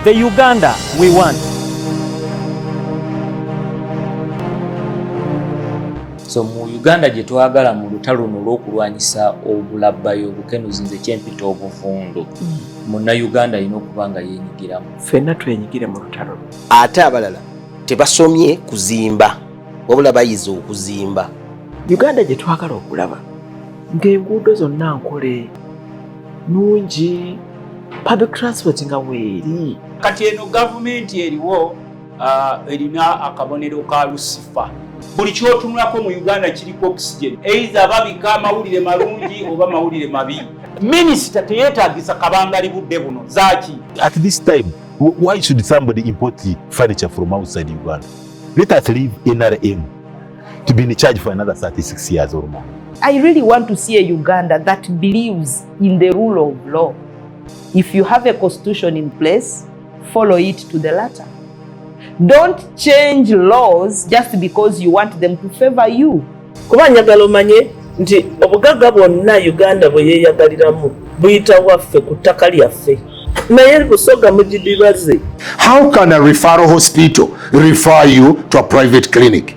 The Uganda we want. So mu Uganda gye twagala mu lutalo luno olw'okulwanyisa obulabbayo obukenuzi nze kyempita obuvundu mm. munnayuganda alina okuba nga yenyigiramu ffenna twenyigire mu lutalo ate abalala tebasomye kuzimba wabula bayize okuzimba uganda gye twagala okulaba ng'enguudo zonna nkole nungi public transport nga weeri kati eno gavumenti eriwo uh, erina akabonero ka lusifa buli kyotunulako mu uganda kiriko oxygen eiza babika amawulire malungi oba mawulire mabi minisita teyetagisa kabangali budde buno zaki at this time why should somebody import the furniture from outside uganda let us leave nrm to be in charge for another 36 years or more i really want to see a uganda that believes in the rule of law. If you have a constitution in place, follow it to the letter. Don't change laws just because you want them to favor you. Kuba njagala omanye nti obugagga bwonna Uganda bwe yeeyagaliramu buyita waffe ku ttaka lyaffe. naye busoga mugidibaze. How can a referral hospital refer you to a private clinic?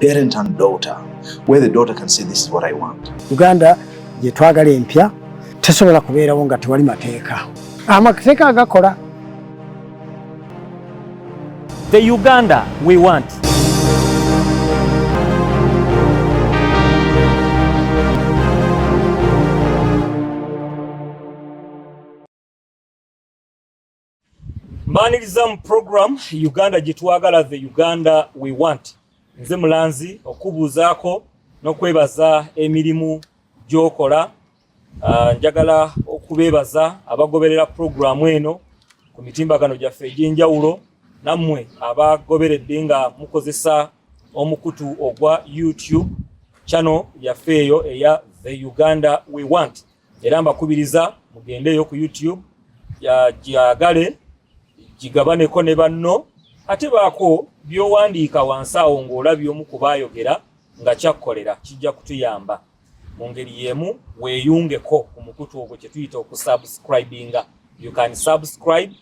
parent and daughter where the daughter can say this is what I want. Uganda gye twagala empya tesobola kubeerawo nga tewali mateeka. Amateeka agakola. The Uganda we want. mbaniriza mu program uganda gyetwagala the uganda we want nze mulanzi okubuuzaako n'okwebaza emirimu gyokola ah, njagala okubeebaza abagoberera puroguramu eno ku mitimbagano gyaffe egy'enjawulo nammwe abagoberedde nga mukozesa omukutu ogwa youtube channel yaffe eyo eya the uganda we want era mbakubiriza mugendeeyo ku youtube gyagale gigabaneko ne banno ate baako byowandiika wansi awo ng'olabye omu kubaayogera nga kyakkolera kijja kutuyamba mu ngeri y'emu weeyungeko ku mukutu ogwo kye tuyita okusubscribinga you can subscribe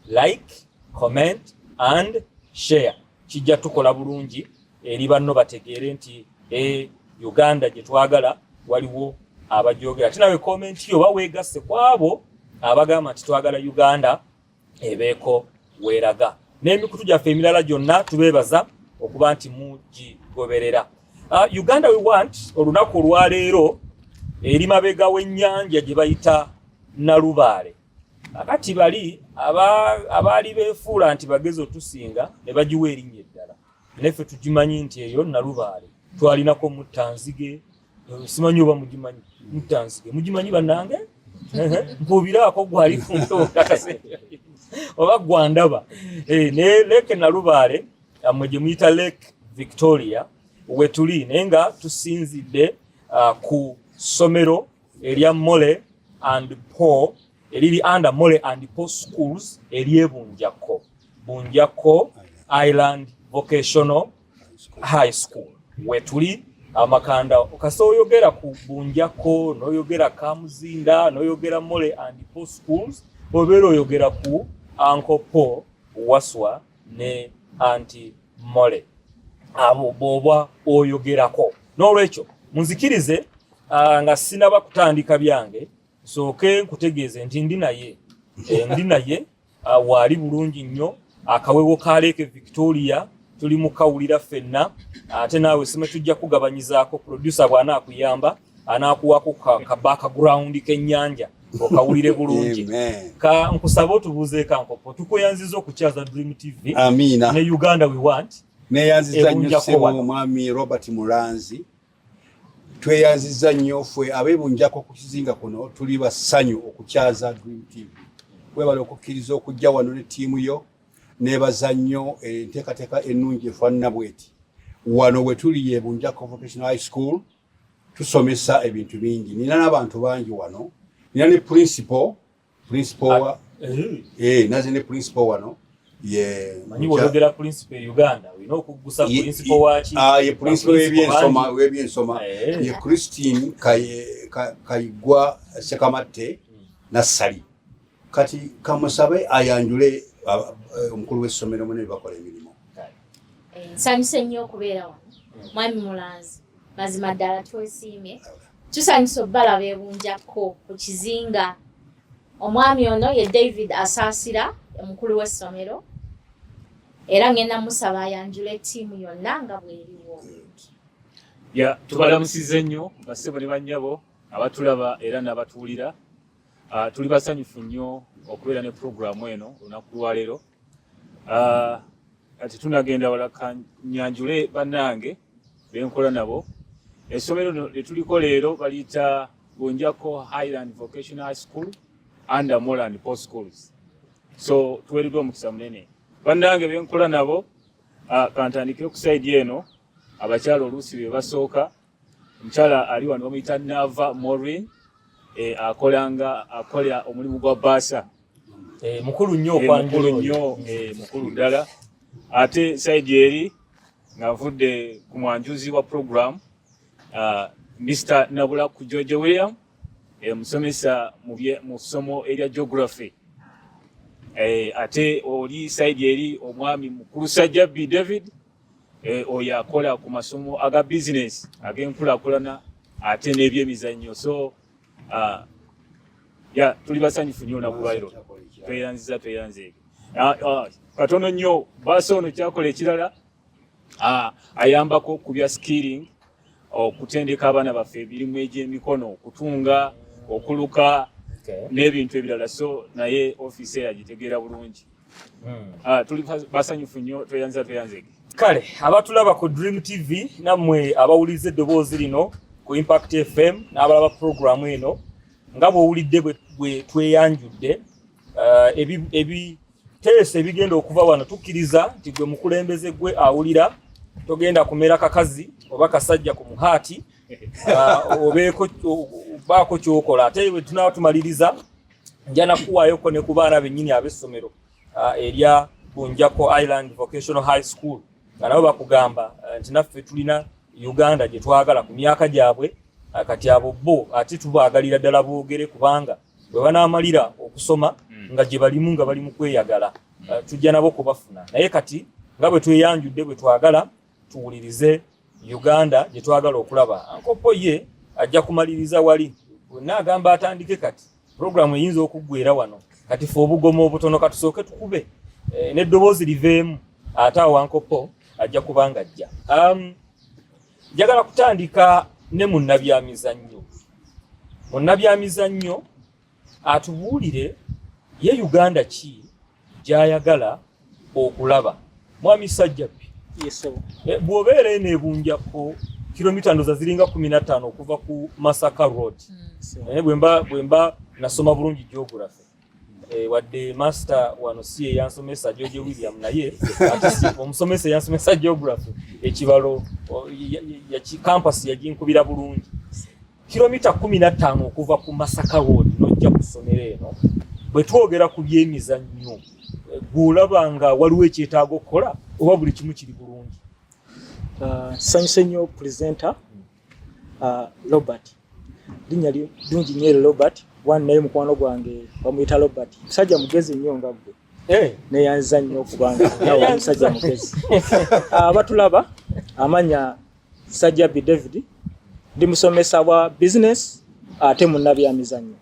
like comment and share kijja tukola bulungi eri banno bategeere nti e uganda gye twagala waliwo abajogera ate nawe komenti yo oba weegasse ku abo abagamba nti twagala uganda ebeeko weeraga n'emikutu gyaffe emirala gyonna tubeebaza okuba nti mugigoberera uh, uganda we want olunaku olwaleero eri mabega w'ennyanja gye bayita nalubaale Akati bali abaali beefuula nti bagezi otusinga ne bagiwa erinnya eddala, naye ffe tugimanyi nti eyo Nalubaale twalinako muttanzige, simanyi oba mugimanyi muttanzige, mugimanyi bannange? Mpuubiraako gwali ku ntokakase oba gwandaba eh, ne leeke Nalubaale mwe gye muyita Lake Victoria wetuli naye nga tusinzidde ah, ku ssomero erya mole and po eriri under mole and po schools eryebunjakko bunjakko island vocational high school wetuli amakanda kasa oyogera ku bunjakko noyogera kamuzinda noyogera mole and po schools obeera oyogera ku ankopo waswa ne anti mole abo bwoba oyogerako n'olwekyo munzikirize ah, nga sinaba kutandika byange nsooke nkutegeeze nti ndi naye eh, ndi naye ah, waali bulungi nnyo akawewo ka leeke victoria tuli mukawulira ffenna ate naawe sime tujja kugabanyizaako producer bw'anaakuyamba anakuwako kabakagrawundi kenyanja okawulire bulungi ka nkusaba otubuuzeeko ankopo tukweyanziza okukyaza dream tv Amina. ne uganda we want neyanziza nnyo sebo omwami robert mulanzi tweyanziza nnyo fwe abebunjako ku kizinga kuno tuli basanyu okukyaza dream tv webale okukkiriza okujja wano ne tiimu yo nebaza nnyo enteekateeka ennungi efaanana bweti wano wetuli yebunjako vocational high school tusomesa ebintu bingi nina nabantu bangi wano nina ne principal principal wa ah, eh, eh naze ne principal wano ye manyi wogera principal Uganda wino okugusa principal wachi ah ye principal webyensoma webyensoma eh. ye Christine kaye kayigwa sekamatte hmm. na sali kati kamusabe ayanjule eh, omukulu w'essomero mune bakola emirimu eh, nsanyuse nnyo okubeera wano mwami mulanzi mazima ddala twesiimye tusanyusa okubalaba ebunjakko ku kizinga omwami ono ye david asaasira omukulu w'essomero era ngenda musaba ayanjula ettiimu yonna nga bweriwo ya tubalamusiza ennyo basebo ne bannyabo abatulaba era n'abatuwulira Uh, tuli basanyufu nnyo okubeera ne puroguramu eno olunaku lwaleero ah, kati uh, tunagenda wala kanyanjule bannange benkola nabo essomero lino lyetuliko leero baliyita bunjako highland vocational high school and moland post schools so tuweereddwa omukisa munene bannange benkola nabo uh, kantandike okusaidi eno abakyala oluusi be basooka omukyala ali wano bamuyita nava morwin eh, akolanga akolera omulimu gwa baasa eh, mukulu nnyo eh, mukulu nnyo mukulu ddala ate saidi eri ngavudde ku mwanjuzi wa programu ah, mr nabula ku george william omusomesa mu ssomo erya geography ate oli saidi eri omwami mukulu sajjabbi david Eh, oyo akola ku masomo aga bizinesi ag'enkulakulana ate n'ebyemizannyo so ah, ya tuli basanyufu nyo nakubairo tweyanziza tweyanze ah, ah, katono nnyo baasa ono kyakola ekirala ayambako ku bya skilling okutendeka abaana baffe emirimu egy'emikono okutunga okuluka n'ebintu ebirala so naye ofiisi eyo agitegeera bulungi hmm. ah, tuli basanyufu nnyo tweyanza tweyanzege kale abatulaba ku dream tv nammwe abawuliza eddoboozi lino ku impact fm n'abalaba puroguramu eno nga bw'owulidde bwe tweyanjudde eh, teesa ebigenda okuva wano tukkiriza nti gwe mukulembeze gwe awulira togenda kumera kakazi oba kasajja ku muhaati ah, obeeko baako kyokola ate we tunaaba tumaliriza nja nakuwaayoko ne ku baana bennyini ab'essomero ah, erya bunjako island vocational high school nga nabo bakugamba eh, nti naffe tulina uganda gye twagala ku myaka gyabwe ah, kati abo bo ate tubaagalira ddala boogere kubanga bwe banaamalira okusoma hmm. nga gye balimu nga bali mu kweyagala hmm. uh, tujja nabo kubafuna naye kati nga bwe tweyanjudde bwe twagala tuwulirize uganda gye twagala okulaba ankopo ye ajja kumaliriza wali wenna agamba atandike kati puroguramu eyinza okuggwera wano kati fe obugomo obutono katusooke tukube eh, n'eddoboozi liveemu ate awankopo ajja kuba nga ajja um, njagala kutandika ne munnabyamizannyo munnabyamizannyo atubuulire ye uganda ki gy'ayagala okulaba mwami sajjabbi eh, bw'obeera eno ebunjako kilomita ndoza ziringa kumi na ttaano okuva ku masaka road hmm. eh, bwemba nasoma bulungi geography Eh, wadde master wano si yeyansomesa george william naye omusomesa eyansomesa geography ekibalo campus yaginkubira bulungi kilomita kumi nattaano okuva ku masaka road nojja ku ssomero eno bwe twogera ku byemizannyo eh, gweolaba nga waliwo ekyetaaga okukola oba buli kimu kiri bulungi ah, nsanyuse nnyo presenter uh, Robert linnya lingi nnyo eri Robert wani naye mukwano gwange bamuyita Robert musajja mugezi nnyo nga ggwe eh. neyanza nnyo okubanga nawe omusajja mugezi ah, abatulaba amanya Sajjabi David ndi musomesa wa business ate munnabyamizannyo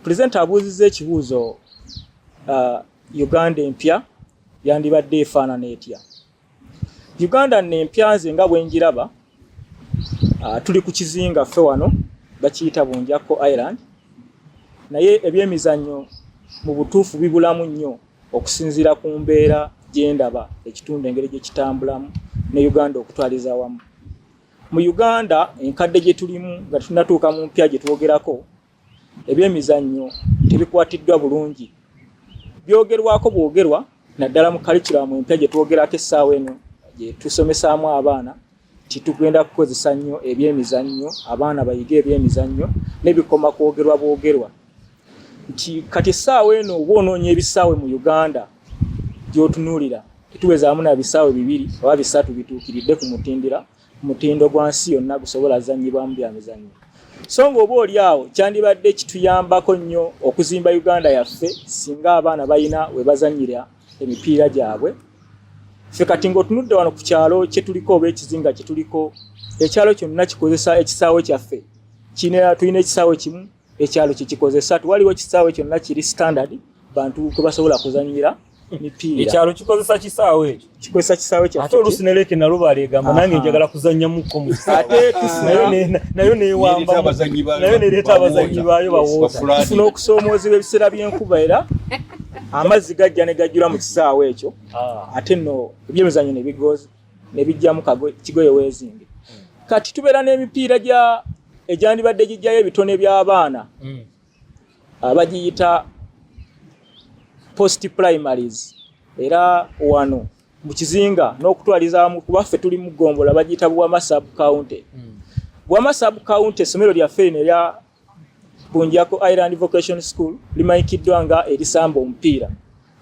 pulezidenti abuuzizza ekibuuzo uh, uganda empya yandibadde efaanana etya Uganda nno empya nze nga bwe njiraba, ah, tuli ku kizinga ffe wano bakiyita Bunjakko Island, naye ebyemizannyo mu butuufu bibulamu nnyo okusinziira ku mbeera gye ndaba ekitundu engeri gye kitambulamu ne Uganda okutwaliza wamu. Mu Uganda enkadde gye tulimu nga tunatuuka mu mpya gye twogerako, ebyemizannyo tebikwatiddwa bulungi byogerwako bwogerwa naddala mu kalikiramu empya gye twogerako essaawa eno gye tusomesaamu abaana nti tugenda kukozesa nnyo ebyemizannyo abaana bayige ebyemizannyo nebikoma kwogerwa bwogerwa nti kati essaawa eno oba onoonya ebisaawe mu uganda gyotunuulira tetuwezaamu na bisaawe bibiri oba bisatu bituukiridde ku mutindira mutindo gwa nsi yonna gusobola zanyibwamu bya mizannyo so ng'oba oli awo kyandibadde kituyambako nnyo okuzimba uganda yaffe singa abaana balina we bazanyira emipiira gyabwe ffe kati ng'otunudde wano ku kyalo kye tuliko oba ekizinga kye tuliko ekyalo kyonna kikozesa ekisaawe kyaffe kirina tulina ekisaawe kimu ekyalo kyekikozesa twaliwo ekisaawe kyonna kiri standard bantu kwebasobola kuzanyira mipiira ekyalo kikozesa kisaawe ekyo kikozesa kisaawe kya ate olusi neleke nalubala egamba nange njagala kuzanyamuko ate nayo newambanayo nereeta abazanyi baayo bawoofuna okusoomoozebwa ebiseera by'enkuba era amazzi gajja ne gajjula mu kisaawe ekyo ah. ate no ebyemizanyo ne bigoozi ne bijjamu kigoye weezinge kati tubeera n'emipiira gya egyandibadde gijjayo ebitone by'abaana mm. abagiyita post primaries era wano mu kizinga n'okutwalizamu kuba ffe tuli mu gombola bagiyita buwama sub county mm. buwama sub county essomero lyaffe lino erya Bunjako Island Vocation School limanyikiddwa nga erisamba omupiira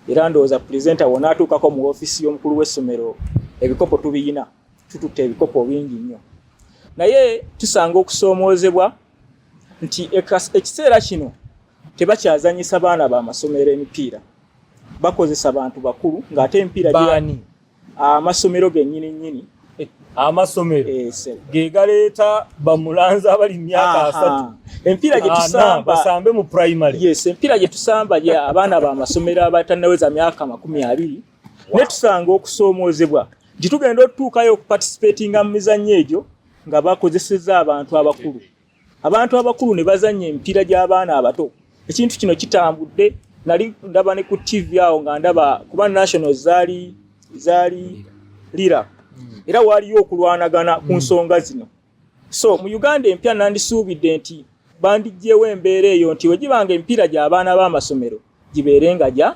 era ndowooza pulezenta wona atuukako mu ofiisi y'omukulu w'essomero ebikopo tubiyina tututte ebikopo bingi nnyo naye tusanga okusoomoozebwa nti ekiseera kino tebakyazanyisa baana ba masomero emipiira bakozesa bantu bakulu ng'ate emipiira gyani amasomero genyini nyini eh, amasomero eh, ge galeeta bamulanzi abali mu myaka asatu empiira gye tusamba basambe mu primary yes empiira gye tusamba ye abaana ba masomero abatannaweza myaka makumi abiri ne tusanga okusoomoozebwa gye tugenda otutuukayo okupatisipatinga mu mizannyo egyo nga bakozeseza abantu abakulu abantu abakulu ne bazannya emipiira gy'abaana abato ekintu kino kitambudde nali ndaba ne ku tv awo nga ndaba kuba national zaali zaali lira hmm. era waaliyo okulwanagana ku hmm. nsonga zino so mu uganda empya nandisuubidde nti bandiggyewo embeera eyo nti wegibanga emipiira gy'abaana b'amasomero gibeere nga gya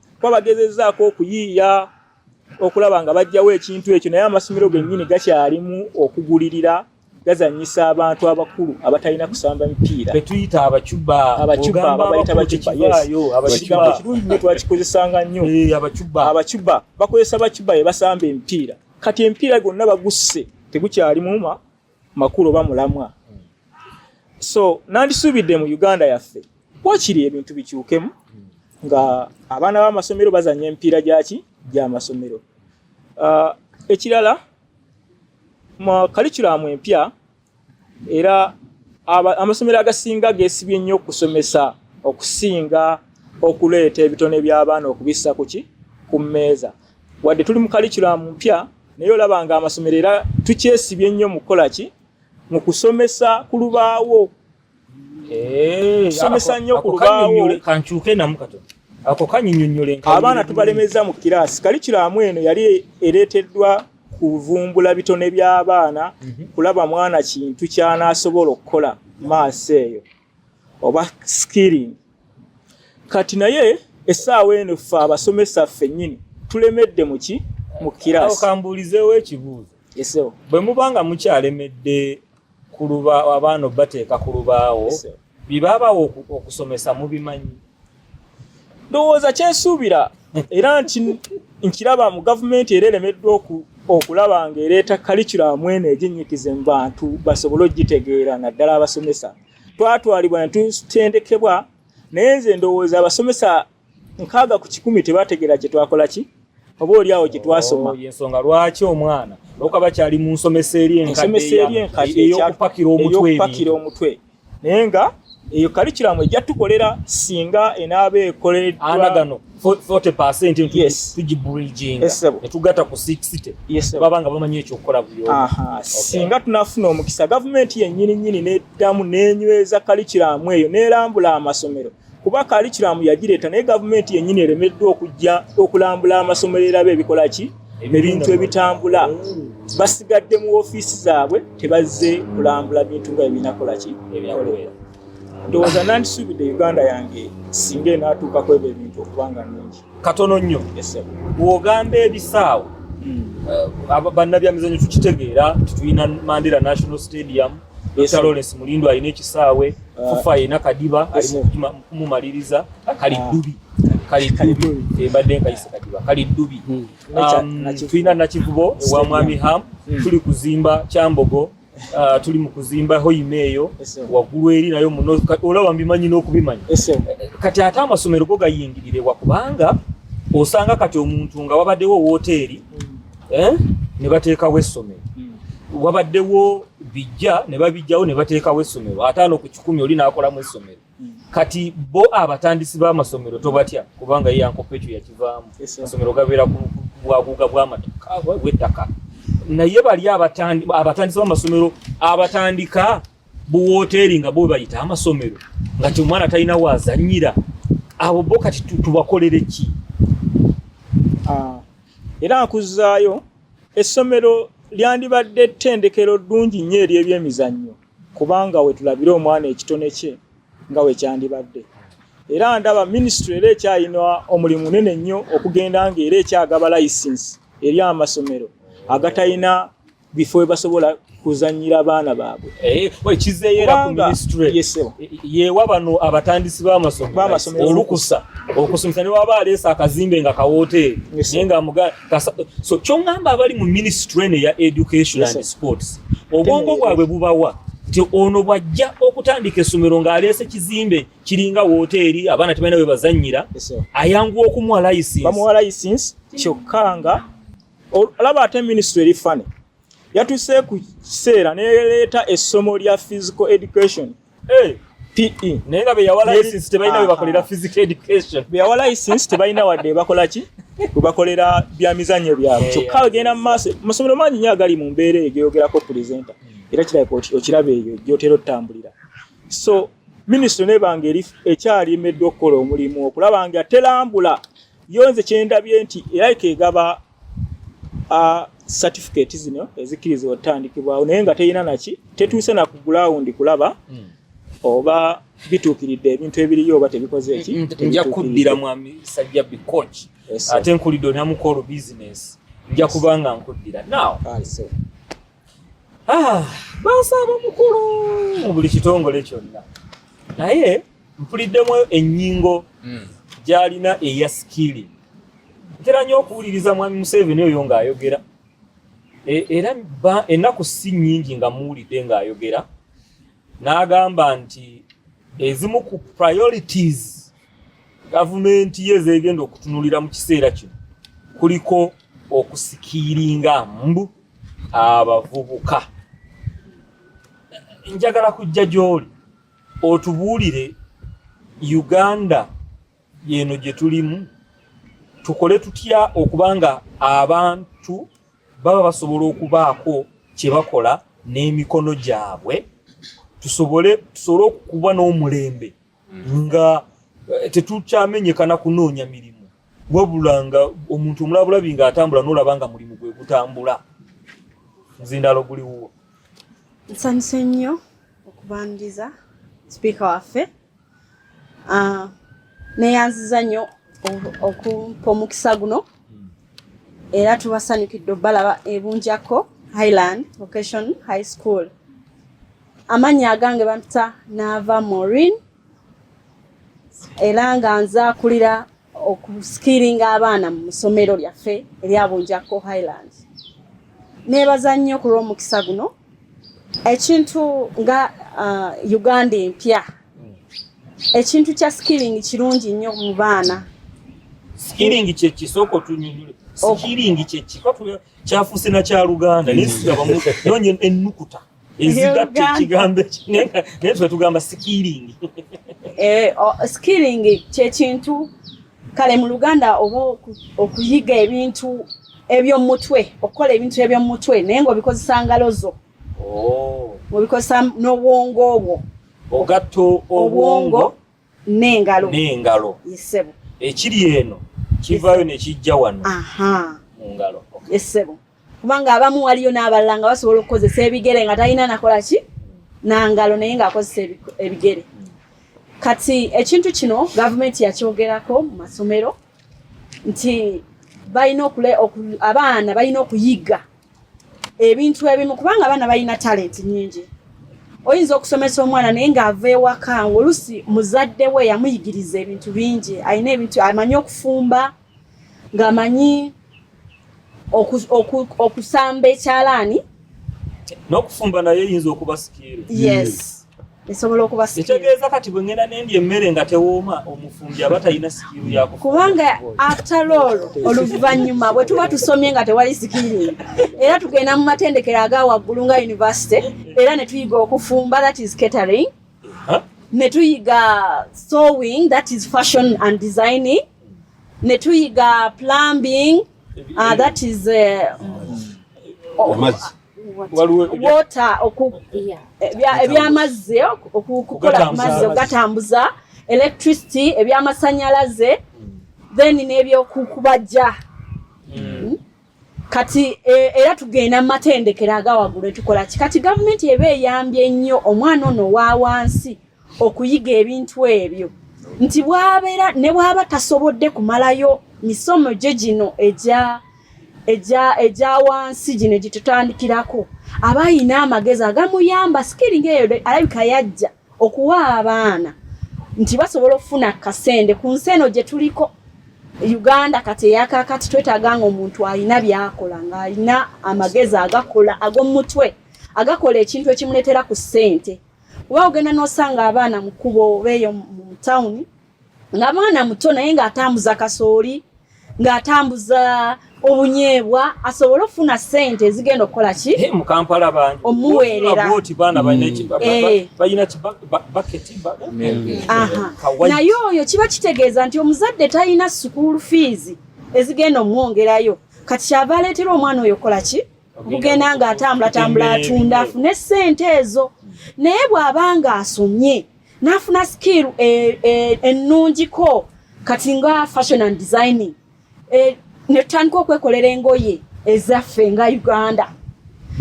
kuba bagezezaako okuyiiya okulaba nga bajjawo ekintu ekyo naye amasomero gennyini gakyalimu okugulirira gazanyisa abantu abakulu abatalina kusamba mipiira betuyita abacuba abacuba babayita bacuba ekigambo kirungi nyo twakikozesanga nnyo eh, abacuba bakozesa bacuba ye basamba emipiira kati emipiira gonna bagusse tegukyalimu ma makulu oba mulamwa so nandisuubidde mu uganda yaffe wakiri ebintu bikyukemu nga abaana b'amasomero bazanya empiira gyaki gyamasomero uh, ekirala mu kalikulamu empya era amasomero agasinga gesibye nnyo okusomesa okusinga okuleeta ebitone by'abaana okubissa kuki ku mmeeza wadde tuli mu kalikiramu mpya naye olaba nga amasomero era tukyesibye ennyo mu kukola ki mu kusomesa ku lubaawo eh, tusomesa nnyo ku lubaawo kankyuke namu katono ako kanyinyonnyole abaana tubalemeza mu kiraasi kalikiramu eno yali ereeteddwa kuvumbula bitone by'abaana mhm. kulaba mwana kintu ky'anaasobola okukola maaso eyo oba skilling kati naye esaawa eno ffe abasomesa ffe nyini tulemedde muki mu kirasi kambuulizeewo ekibuuzo esewo bwe muba nga mukyalemedde ku luba abaana obateeka ku lubaawo bye babawo okusomesa mubimanyi ndowooza kyesuubira era nkiraba mu gavumenti era eremeddwa okulaba nga ereeta kalikiramu eno eginnyikize mu bantu basobole okugitegeera naddala abasomesa twatwalibwa netutendekebwa naye nze ndowooza abasomesa nkaaga ku kikumi tebategeera kyetwakola ki oba oli awo gyetwasoma oh, yensonga lwaki omwana okuba bakyali mu nsomesa eri enkadde eyokupakira omutwe naye nga eyo kalikiramu ejja tukolera singa enaaba ekoleddwa gano 40tugiburijinganetugatta ku sixty baba nga bamanyi ekyokukola buyo singa tunafuna omukisa gavumenti yennyini nnyini neddamu nenyweza kalikiramu eyo nelambula amasomero kuba kalikiramu yagireeta naye gavumenti yennyini eremeddwa okujja okulambula amasomero erabe ebikola ki ebintu ebitambula basigadde mu ofiisi zaabwe tebazze kulambula bintu nga ebinakola ki ebinakolera ndowooza nandisuubidde uganda yange singa enaatuuka kwebyo ebintu okuba nga nungi katono nnyo bw'ogamba ebisaawe hmm. bannabyamizanyo tukitegeera titulina mandera national stadium Dr. Lawrence Mulindo alina ekisaawe uh, fufa alina kadiba alimumaliriza kali uh, dubi kali dubi ebadde eh, nkayise kadiba kali dubi hmm. um, tulina nakivubo ewa mwami ham hmm. tuli kuzimba kyambogo Uh, tuli mu kuzimba hoima eyo waggulu eri nayo muno olaba mbimanyi n'okubimanya kati ate amasomero go gayingirire wakubanga osanga kati omuntu nga wabaddewo wooteeri mm. eh, ne bateekawo essomero mm. wabaddewo bijja ne babijjawo ne bateekawo essomero ataano ku kikumi oli n'akolamu essomero kati bo abatandisi b'amasomero tobatya kubanga ye yankopa ekyo yakivaamu amasomero gabeera ku bwaguuga bw'ettaka naye bali abatandisi b'amasomero abatandika buwooteeri nga bo bayita amasomero nga ti omwana talina waazannyira abo bo kati tubakolere ki ah, era nkuzaayo essomero lyandibadde ettendekero ddungi nnyo ery'ebyemizannyo kubanga wetulabira omwana ekitone kye nga wekyandibadde era ndaba minisitule era ekyalina omulimu munene nnyo okugenda nga era ekyagaba layisinsi eri amasomero agatalina bifo webasobola kuzanyira abaana baabwe eh, yewa bano abatandisi b'amasomero olukusa okusomesa ne waba aleesa akazimbe nga kawoteeri naye nga so kyongamba abali mu ministry eno eya education yes, and sports obwongo bwabwe bubawa nti ono bwajja okutandika essomero ng'aleese kizimbe kiringa wooteeri abaana tebalina we bazannyira ayanguwa okumuwa license bamuwa license kyokka nga olaba ate ministry eri fane yatuse ku kiseera neleeta essomo lya physical education hey. Eh, PE naye nga beyawala license tebalina bwe bakolera physical education beyawala license tebalina wadde bakola ki bwe bakolera bya mizannyo byabwe kyokka bagenda mu maaso amasomero mangi nyo agali mu mbeera eyo geyogerako presenter hmm. era kirabika okiraba eyo gyotera otutambulira so minisitule nebanga eri ekyali emeddwa okukola omulimu okulaba nga telambula yo nze kyendabye nti era ikaegaba a certificate zino ezikiriza otandikibwawo naye nga teyina naki tetuuse na ku ground kulaba mm. oba bituukiridde ebintu ebiriyo oba tebikoze eki mm, mm, nja kuddira mwami sajja bi coach ate nkulidde onamukoolo business nja kubanga nkuddira now Ah, bansaba mukulu mu buli kitongole kyonna naye mpuliddemu ennyingo hmm. gyalina eya sikili ntera nyo okuwuliriza mwami museveni oyo ng'ayogera e, era ennaku si nnyingi nga muwulidde ng'ayogera n'agamba nti ezimu ku priorities gavumenti ye zeegenda okutunulira mu kiseera kino kuliko okusikiiringa mbu abavubuka njagala kujja gy'oli otubuulire uganda yeno gye tulimu tukole tutya okuba nga abantu baba basobola okubaako kye bakola n'emikono gyabwe tusobole tusobole okuba n'omulembe nga eh, tetukyamenyekana kunoonya mirimu wabula nga omuntu omulabulabi nga atambula nolaba nga mulimu gwe gutambula nzindalo guli wuwo nsanyuse nnyo okubandiza sipiika waffe ah, neyanziza nnyo okumpa omukisa guno hmm. era tubasanyukidde obalaba ebunjako highland vocation high school amannya agange bampita naava morin era nga nze akulira okusikiringa abaana mu ssomero lyaffe erya bunjakko highland neebaza nnyo ku lw'omukisa guno ekintu nga uh, uganda empya ekintu kya skilling kirungi nnyo mu baana skilling kyekisooka otunyonyole skilling kyekikyafuuse nakyaluganda naye siabamu nonya ennukuta ezigatta ekigambo naye ffe tugamba sikiringi eh, sikiringi kyekintu kale mu luganda oba okuyiga ebintu ebyomumutwe okukola ebintu ebyomumutwe naye ngaobikozesa ngalo zo oh. obikozesa n'obwongo obwo ogatta obwongo n'engalo n'engalo yesebo ekiri eno kivaayo ne kijja wano mu ngalo yesebo kubanga abamu waliyo n'abalala nga basobola okukozesa ebigere nga talina nakola ki nangalo naye ng'akozesa ebigere kati ekintu kino gavumenti yakyogerako mu masomero nti balina okule abaana balina okuyiga ebintu ebimu kubanga abaana balina talenti nyingi oyinza okusomesa omwana naye ng'ava ewaka oluusi muzadde we yamuyigiriza ebintu bingi alina ebintu amanyi okufumba ng'amanyi okusamba ekyalaani n'okufumba naye eyinza okuba sikiiru yes mm. esobola okuba kitegeeza kati bwe ngenda nendi emmere nga tewooma omufumbi aba talina sikiiru yaku kubanga aftalool oluvannyuma bwe tuba tusomye nga tewali sikiiru era tugenda mu matendekero aga waggulu nga univesity era ne tuyiga okufumba that is catering ne tuyiga sewing that is fashion and designing ne tuyiga plumbing Ah, that is uh, oh, water ebyamazzi eh, okukola amazzi okugatambuza electricity ebyamasanyalaze then nebyokukubajja hmm. hmm? kati e, era tugenda mu matendekero agawaggulu etukola ki kati gavumenti eba eyambye nnyo omwana ono owa wansi okuyiga ebintu ebyo nti bwabeera ne bwaba tasobodde kumalayo misomo gye gino egya egya egya wansi gino egitutandikirako aba ayina amagezi agamuyamba sikiri ngaeyo alabika yajja okuwa abaana nti basobola okufuna kasende ku nsi eno gye tuliko uganda kati eyakakati twetaaga nga omuntu alina byakola ng'alina amagezi agakola ag'omumutwe agakola ekintu ekimuleetera ku ssente Kuba ogenda n'osanga abaana mu kkubo oba eyo mu tawuni nga mwana muto naye ng'atambuza kasooli ng'atambuza obunyeebwa asobole okufuna ssente ezigenda okukola ki mu kampala bangi omuweereraoti baana balina naye oyo kiba kitegeeza nti omuzadde talina sukuulu fiizi ezigenda omwongerayo kati kyava aleetera omwana oyo okukola ki okugenda nga atambula tambula atunda afune sente ezo naye bw'aba nga asomye n'afuna sikiiru e, e, ennungiko kati nga fashion and designing e, ne tutandika okwekolera engoye ezaffe nga uganda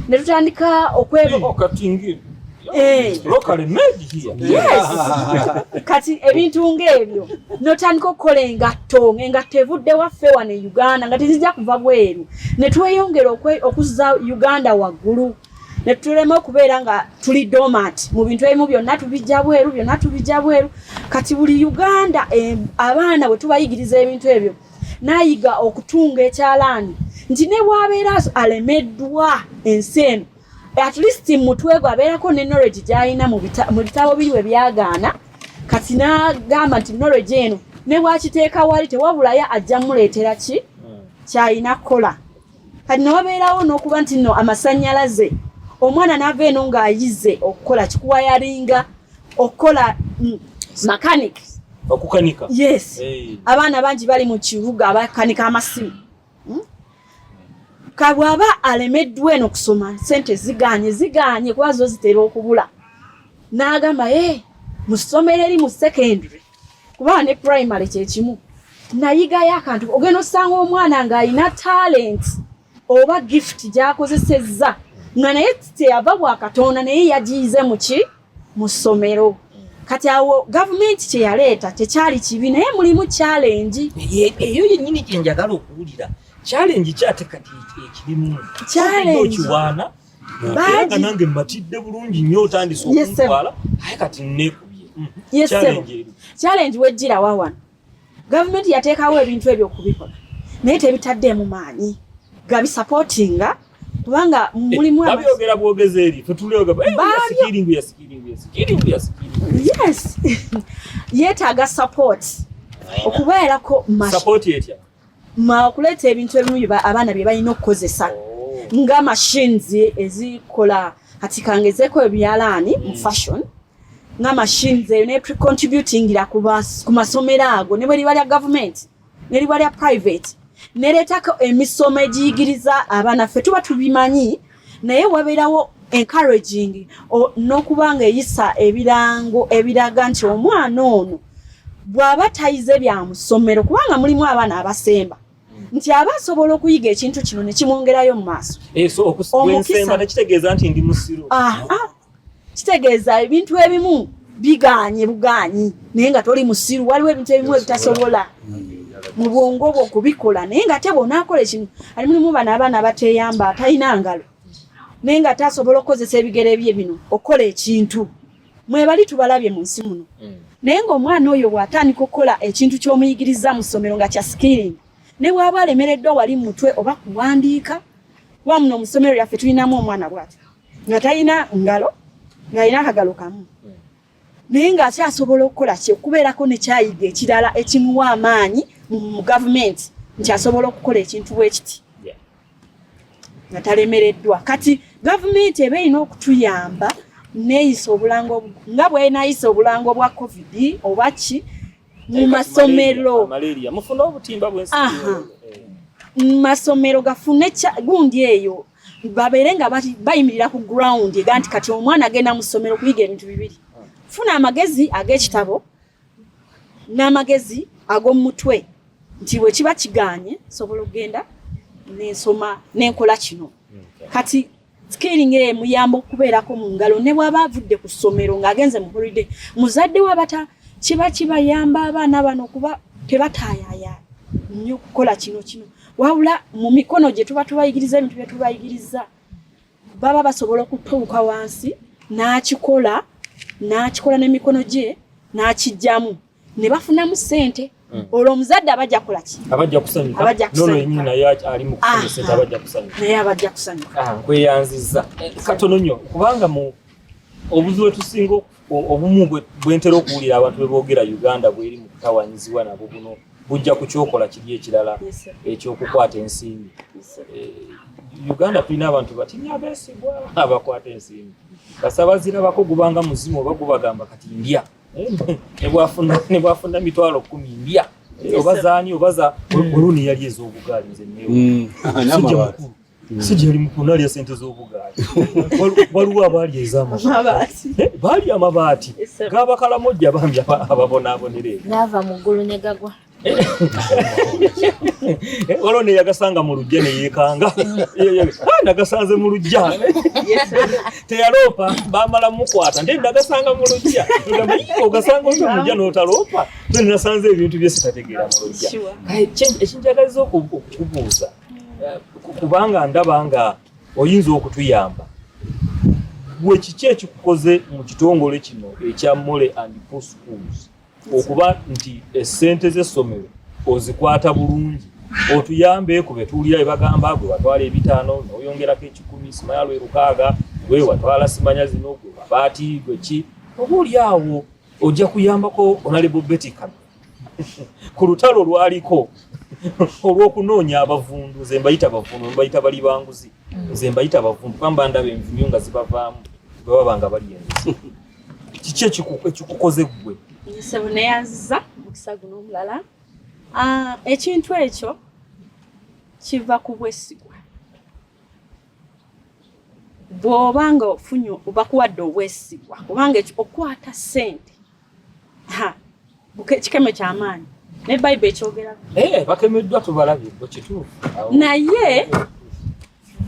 ne tutandika okwekati Eh. kati ebintu ng'ebyo notandika okukola engatto engatto evudde waffe wano e uganda nga tezijja kuva bweru ne tweyongera okuzza uganda waggulu ne tulema okubeera nga tuli domat mu bintu ebimu byonna tubijja bweru byonna tubijja bweru kati buli uganda eh, abaana bwe tubayigiriza ebintu ebyo nayiga okutunga ekyalaani nti ne bwabeera alemeddwa ensi eno at least mutwe gwe abeerako ne knowledge gy'alina mu bitabo biri we byagaana kati n'agamba nti knowledge eno ne bwakiteeka wali tewabulayo ajja muleetera ki hmm. kyalina kukola kati newabeerawo n'okuba nti no amasannyalaze omwana n'ava eno ng'ayize okukola kikuwayaringa okukola mm, mechanic okukanika yes abaana bangi bali mu kibuga abakanika amasimu hmm? ka bw'aba alemeddwa eno kusoma sente zigaanye zigaanye kuba zo zitera okubula n'agamba e eh, mu ssomero eri mu secondary kuba ne primary kye kimu nayigayo akantu ogenda osanga omwana ng'alina talent oba gift gy'akozesezza nga naye teyava bwa katonda naye yagiyize mu ki mu ssomero kati awo gavumenti kyeyaleeta tekyali kibi naye mulimu challenge eyo yennyini gyenjagala okuwulira challenge kyate kati ekirimu okiwaana naga nange mmatidde bulungi nnyo otandise okuntwala aye kati nekubye challenge wejjira wawano gavumenti yateekawo ebintu ebyo okubikola naye tebitaddeemu maanyi gabisapootinga kubanga eh, mulimu abyogera bwogezi eri tetuleoga eh, yasikiringu yasikiringu yasikiringu yasikiringu yes yeetaaga support okubeerako support etya mwakuleeta ebintu ebimu abaana bye balina okukozesa nga machines ezikola kati kangezeko ebyalaani mu mm. fashion nga machines eyo ne precontributingira ku masomero ago ne bwe liba lya gavumenti ne liba lya private nereetako emisomo egiyigiriza abaana ffe tuba tubimanyi naye wabeerawo encouraging n'okuba nga eyisa ebirango ebiraga nti omwana ono bw'aba tayize bya musomero kubanga mulimu abaana abasemba nti aba asobola okuyiga ekintu kino ne kimwongerayo mu maaso eh, omukisa tekitegeeza nti ndi musiru ah, ah. kitegeeza ebintu ebimu biganye buganyi naye nga toli musiru waliwo ebintu ebimu ebitasobola mu bwongo bwo kubikola naye nga te bwonaakola ekimu ali mulimu bano abaana bateyamba atalina ngalo naye nga tasobola okukozesa ebigere bye bino okukola ekintu mwebali tubalabye mu nsi muno mm. naye ngaomwana oyo bwatandika okukola ekintu kyomuyigiriza mu ssomero nga kya skilling ne bwaba alemereddwa wali mutwe oba kuwandiika wamuno mu ssomero lyaffe tulinamu omwana bwati nga talina ngalo ng'alina akagalo kamu naye ng'akyasobola okukola kye okubeerako nekyayiga ekirala ekimuwa amaanyi mu gavumenti nti asobola okukola ekintu bwekiti nga talemereddwa kati gavumenti eba erina okutuyamba neyisa obulango nga bwenayisa obulango bwa covid oba ki mu masomero mu masomero gafune gundi eyo babeere nga bayimirira ku ground ega nti kati omwana agenda mu ssomero kuyiga ebintu bibiri funa amagezi ag'ekitabo n'amagezi ag'omu mutwe nti bwe kiba kiganye sobola okugenda nensoma nenkola kino kati skilling eye muyamba okubeerako mu ngalo ne bwaba avudde ku ssomero ng'agenze mu holiday muzadde we abata kiba kibayamba abaana bano kuba tebataayaaya nnyo kukola kino kino wabula mu mikono gye tuba tubayigiriza ebintu bye tubayigiriza baba basobola okutuuka wansi n'akikola n'akikola n'emikono gye n'akijjamu ne bafunamu ssente hmm. olwo omuzadde abajja kukola ki abajja kusanyukaabajja kusanyuka ah, nkweyanziza eh, katono nnyo kubanga mu obuzibu etusinga obumu bwentera okuwulira abantu bebogera uganda bweri mu kutawanyizibwa nabwo buno bujja kukyokola kiri ekirala ekyokukwata ensimbi eh, uganda tulina abantu batinya abesigwa abakwata ensimbi kasabazirabako gubanga muzimu oba gubagamba kati ndya nebwafuna mitwalo kumi ndya oba zani oba za mm. oluni yali ezobugaali nze newe mm. sijja mukulu sijja oli mukulu nalya sente z'obugaali waliwo abaali ez'amabaati eh, baali amabaati gabakalamojja bambi ababonaabonera eyo naava mu ggulu ne gagwa Eh, waliwo neyagasanga mu lujja neyekanga ah, nagasanze mu lujja teyaloopa bamala mukwata nte nagasanga mu lujja ogasanga oyo mulujja notaloopa nasanze ebintu byesitategeera mu lujja ekinjagaliza okubuuza eh, kubanga ndaba nga oyinza okutuyamba gwe kiki ekikukoze mu kitongole kino ekya mole and pool schools okuba nti esente z'essomero ozikwata bulungi otuyambe ku betuwulira ebagamba gwe watwala ebitaano noyongerako ekikumi simanya lwe lukaaga gwe watwala simanya zino gwe mabaati gwe ki oba oli awo ojja kuyambako onalebo beti kamera ku lutalo lwaliko olw'okunoonya abavundu nze mbayita bavundu mbayita bali banguzi nze mbayita bavundu kuba mba ndaba envunyu nga zibavaamu bwe baba nga bali enguzi kiki ekikukoze ggwe sebo neyanziza mukisa guno omulala ah, ekintu ekyo kiva ku bwesigwa bw'oba nga ofunye bakuwadde obwesigwa kubanga okukwata ssente kikeme kyamaanyi naye bayibuli ekyogerako eh, bakemeddwa tubalabye kituufu naye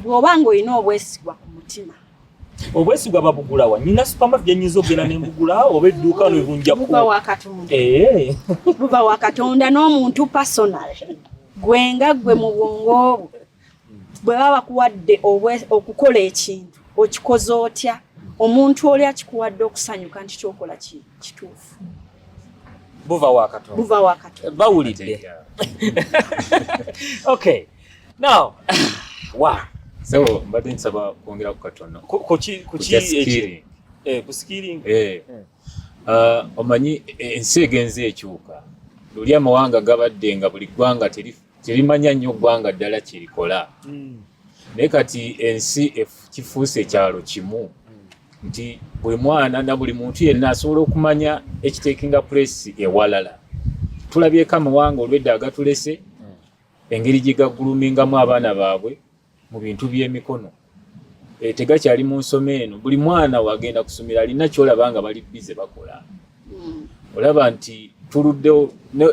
bw'oba ng'olina obwesigwa ku mutima obwesigwa babugulawa nina supama byenyinza okugenda nembugula oba edduuka nebunjabuba wa katonda eh. n'omuntu personal gwe nga gwe mu bwongo obwo bwe baba bakuwadde okukola ekintu okikoze otya omuntu oli akikuwadde okusanyuka nti kyokola kituufu buva wakato buva wakato eh, bawulidde okay now wa so mbadde nsaba kwongera ku katono kuki kuki ekiri eh ku skilling eh uh, omanyi eh, ensi egenze ekyuka luli amawanga gabadde nga buli ggwanga teri terimanya nnyo ggwanga ddala kyerikola hmm. naye kati ensi kifuuse ekyalo kimu hmm. nti buli mwana na buli muntu yenna asobola okumanya ekitekinga pulesi ewalala tulabyeko amawanga olwedda agatulese hmm. engeri gye gaggulumingamu abaana baabwe mu bintu by'emikono e, tegakyali mu nsoma eno buli mwana wagenda kusomera alina kyolaba nga bali bize bakola hmm. olaba nti tuluddewo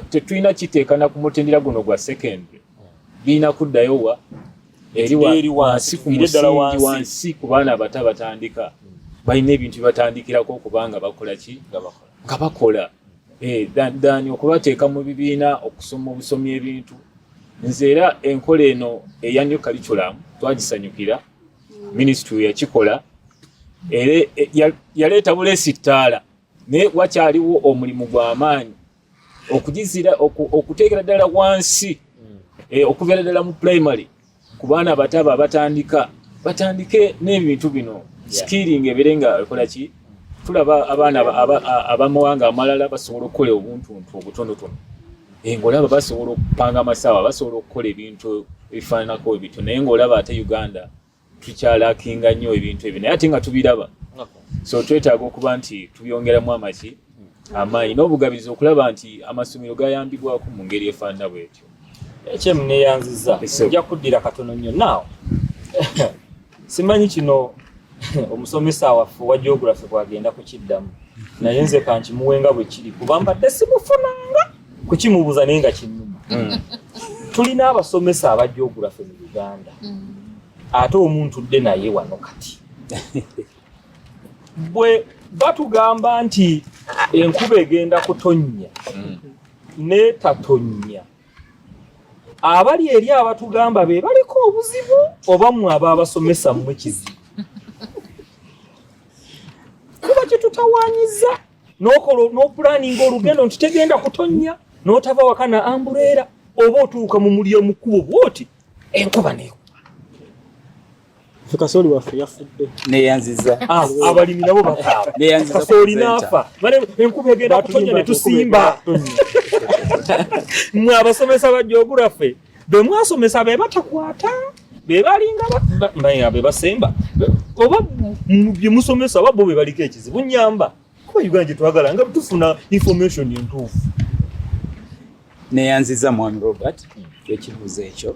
tetulina kiteekana ku mutendera guno gwa secondary birina kuddayo wa eri wansi ku musingi wansi ku baana abato abatandika balina ebintu bibatandikirako okubanga bakola ki nga bakola eh, dani okubateeka mu bibiina okusoma obusomi ebintu nze era enkola eno eya new curriculum twagisanyukira mm. ministry yakikola era eh, yaleeta buleesi ttaala naye wakyaliwo omulimu gw'amaanyi okugizira okuteekera ddala wansi mm. eh, okubeera ddala mu primary ku baana abato abo abatandika batandike n'ebintu bino sikiringa ebeere nga ekola ki tulaba abaana abamawanga amalala basobola okukola obuntuntu obutonotono eh, ngaolaba basobola okupanga amasaawa basobola okukola ebintu ebifaananako ebityo naye ngaolaba ate uganda tukyalakinga nnyo ebintu ebyo naye ate nga tubiraba so twetaaga okuba nti tubyongeramu amaki amaanyi n'obugabiriza okulaba nti amasomero gayambibwako mu ngeri efaanana bwetyo ekyemu neyanziza nja kuddira katono nnyo naawo simanyi kino omusomesa waffe owa geography bwagenda kukiddamu naye nze kankimuwenga bwe kiri kuba mbadde simufunanga kukimubuuza naye nga kinnuma hmm. tulina abasomesa aba geography mu uganda hmm. ate omuntu dde naye wano kati bwe batugamba nti enkuba egenda kutonnya mm. n'etatonnya abali eri abatugamba be baliko obuzibu oba mwe aba abasomesa mmwe kizibu kuba kyetutawanyiza n'opulaninga olugendo nti tegenda kutonnya n'otava waka na ambureera oba otuuka mu mulya mukkubo bwoti enkuba neku kasooli waffe yafudde neyanziza ah, abalimi nabo bakasooli naafa enkuba egenda kutonya ne tusimba mwe abasomesa ba geography be mwasomesa be batakwata be balinga mbaye be basemba oba bye musomesa oba bo be baliko ekizibu nyamba kuba uganda gye twagala nga tufuna information entuufu neyanziza mwami robert ekibuuzo ekyo